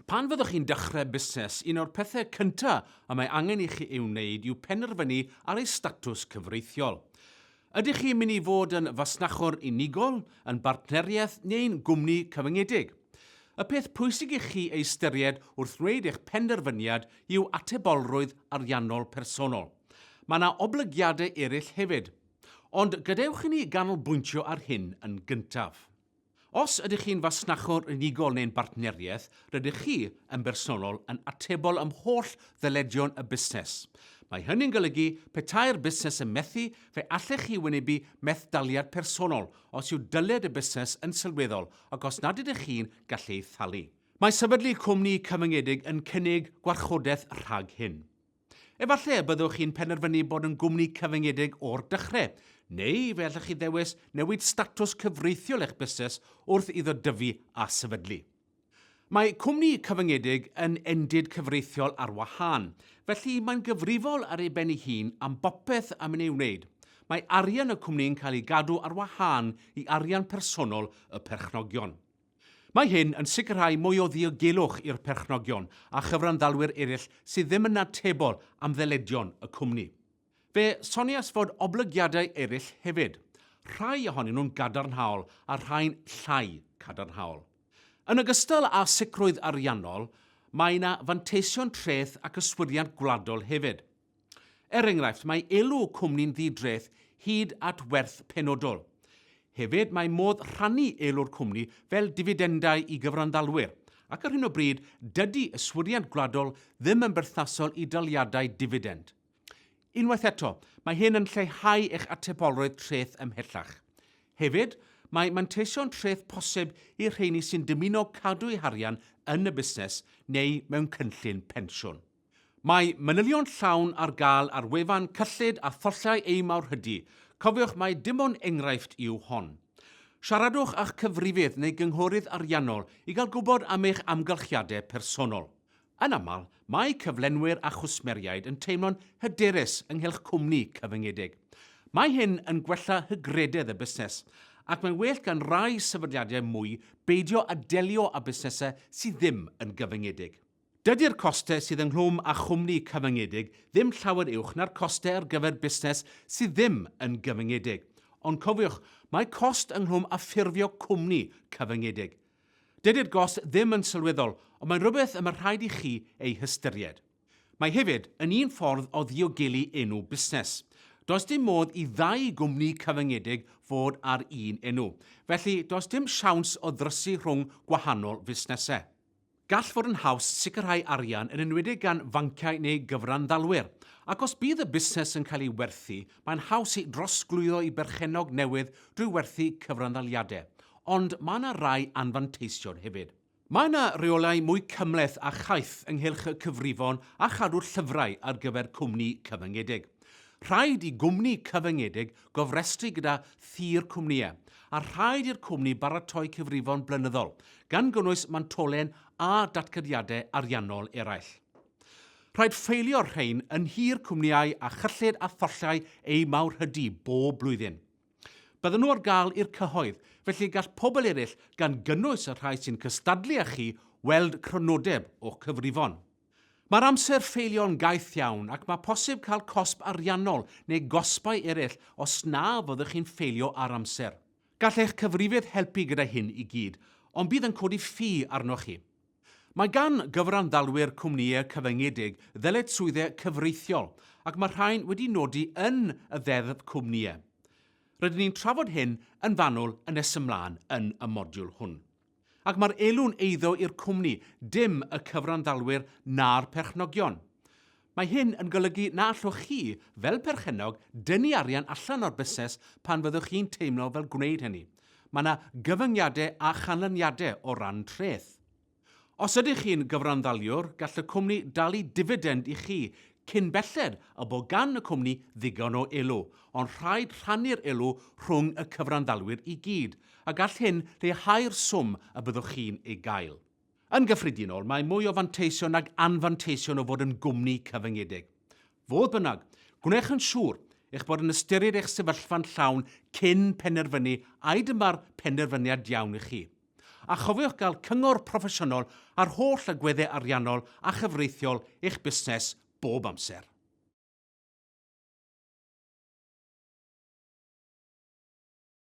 Pan fyddwch chi'n dechrau busnes, un o'r pethau cynta y mae angen i chi ei wneud yw penderfynu ar ei statws cyfreithiol. Ydych chi'n mynd i fod yn fasnachwr unigol, yn bartneriaeth neu'n gwmni cyfyngedig? Y peth pwysig i chi ei ystyried wrth wneud eich penderfyniad yw atebolrwydd ariannol personol. Mae yna oblygiadau eraill hefyd. Ond gadewch i ni ganolbwyntio ar hyn yn gyntaf. Os ydych chi'n fasnachwr unigol neu'n bartneriaeth, rydych chi, yn bersonol, yn atebol ym holl ddyledion y busnes. Mae hynny'n golygu, petai'r busnes yn methu, fe allech chi wynebu methdaliad personol os yw dyled y busnes yn sylweddol ac os nad ydych chi'n gallu ei thalu. Mae sefydlu cwmni cyfyngedig yn cynnig gwarchodaeth rhag hyn. Efallai y byddwch chi'n penderfynu bod yn gwmni cyfyngedig o'r dechrau, neu fe allwch chi ddewis newid statws cyfreithiol eich busnes wrth iddo dyfu a sefydlu. Mae cwmni cyfyngedig yn endid cyfreithiol ar wahân, felly mae'n gyfrifol ar ei ben ei hun am bopeth am yn ei wneud. Mae arian y cwmni'n cael ei gadw ar wahân i arian personol y perchnogion. Mae hyn yn sicrhau mwy o ddiogelwch i'r perchnogion a chyfranddalwyr eraill sydd ddim yn atebol am ddyledion y cwmni. Fe soniais fod oblygiadau eraill hefyd, rhai ohonyn nhw'n gadarnhaol a rhai'n llai cadarnhaol. Yn ogystal â sicrwydd ariannol, mae yna fanteision treth ac yswiriant gwladol hefyd. Er enghraifft, mae elw cwmni'n ddi-dreth hyd at werth penodol. Hefyd, mae modd rhannu elw'r cwmni fel difidendau i gyfranddalwyr, ac ar hyn o bryd, dydy yswiriant gwladol ddim yn berthnasol i daliadau difidend. Unwaith eto, mae hyn yn lleihau eich atebolrwydd treth ymhellach. Hefyd, mae manteision treth posib i'r rheini sy'n dymuno cadw eu harian yn y busnes neu mewn cynllun pensiwn. Mae manylion llawn ar gael ar wefan Cyllid a Thollau Ei Mawrhydi, cofiwch mai dim ond enghraifft yw hon. Siaradwch â'ch cyfrifydd neu gynghorydd ariannol i gael gwybod am eich amgylchiadau personol. Yn aml, mae cyflenwyr a chwsmeriaid yn teimlo'n hyderus ynghylch cwmni cyfyngedig. Mae hyn yn gwella hygrededd y busnes, ac mae'n well gan rai sefydliadau mwy beidio â delio â busnesau sydd ddim yn gyfyngedig. Dydy'r costau sydd ynghlwm â chwmni cyfyngedig ddim llawer uwch na'r costau ar gyfer busnes sydd ddim yn gyfyngedig. Ond cofiwch, mae cost ynghlwm â ffurfio cwmni cyfyngedig. Dydy'r gost ddim yn sylweddol, ond mae'n rhywbeth y mae rhaid i chi ei hystyried. Mae hefyd yn un ffordd o ddiogelu enw busnes. Does dim modd i ddau gwmni cyfyngedig fod ar un enw, felly does dim siawns o ddrysu rhwng gwahanol fusnesau. Gall fod yn haws sicrhau arian yn enwedig gan fanciau neu gyfranddalwyr, ac os bydd y busnes yn cael ei werthu, mae'n haws ei drosglwyddo i berchennog newydd drwy werthu cyfranddaliadau, ond mae yna rai anfanteision hefyd. Mae yna reolau mwy cymhleth a chaeth ynghylch y cyfrifon a chadw'r llyfrau ar gyfer cwmni cyfyngedig. Rhaid i gwmni cyfyngedig gofrestru gyda thir cwmnïau, a rhaid i'r cwmni baratoi cyfrifon blynyddol, gan gynnwys mantolen a datganiadau ariannol eraill. Rhaid ffeilio'r rhain yn nhir cwmnïau a chyllid a thollau eu mawrhydi bob blwyddyn. Bydden nhw ar gael i'r cyhoedd, felly gall pobl eraill, gan gynnwys y rhai sy'n cystadlu â chi, weld crynodeb o'ch cyfrifon. Mae'r amser ffeilio'n gaeth iawn ac mae posib cael cosb ariannol neu gosbau eraill os na fyddwch chi'n ffeilio ar amser. Gall eich cyfrifydd helpu gyda hyn i gyd, ond bydd yn codi ffi arnoch chi. Mae gan gyfranddalwyr cwmnïau cyfyngedig ddyletswyddau cyfreithiol ac mae rhain wedi nodi yn y Ddeddf Cwmnïau. Rydyn ni'n trafod hyn yn fanwl yn nes ymlaen yn y modiwl hwn. Ac mae'r elw'n eiddo i'r cwmni, dim y cyfranddalwyr na'r perchnogion. Mae hyn yn golygu na allwch chi, fel perchennog, dynnu arian allan o'r busnes pan fyddwch chi'n teimlo fel gwneud hynny. Mae yna gyfyngiadau a chanlyniadau o ran treth. Os ydych chi'n gyfranddaliwr, gall y cwmni dalu difidend i chi Cyn belled y bo gan y cwmni ddigon o elw, ond rhaid rhannu'r elw rhwng y cyfranddalwyr i gyd, a gall hyn leihau'r swm y byddwch chi'n ei gael. Yn gyffredinol, mae mwy o fanteision nag anfanteision o fod yn gwmni cyfyngedig. Fodd bynnag, gwnewch yn siŵr eich bod yn ystyried eich sefyllfa'n llawn cyn penderfynu ai dyma'r penderfyniad iawn i chi. A chofiwch gael cyngor proffesiynol ar holl agweddau ariannol a chyfreithiol eich busnes bob amser.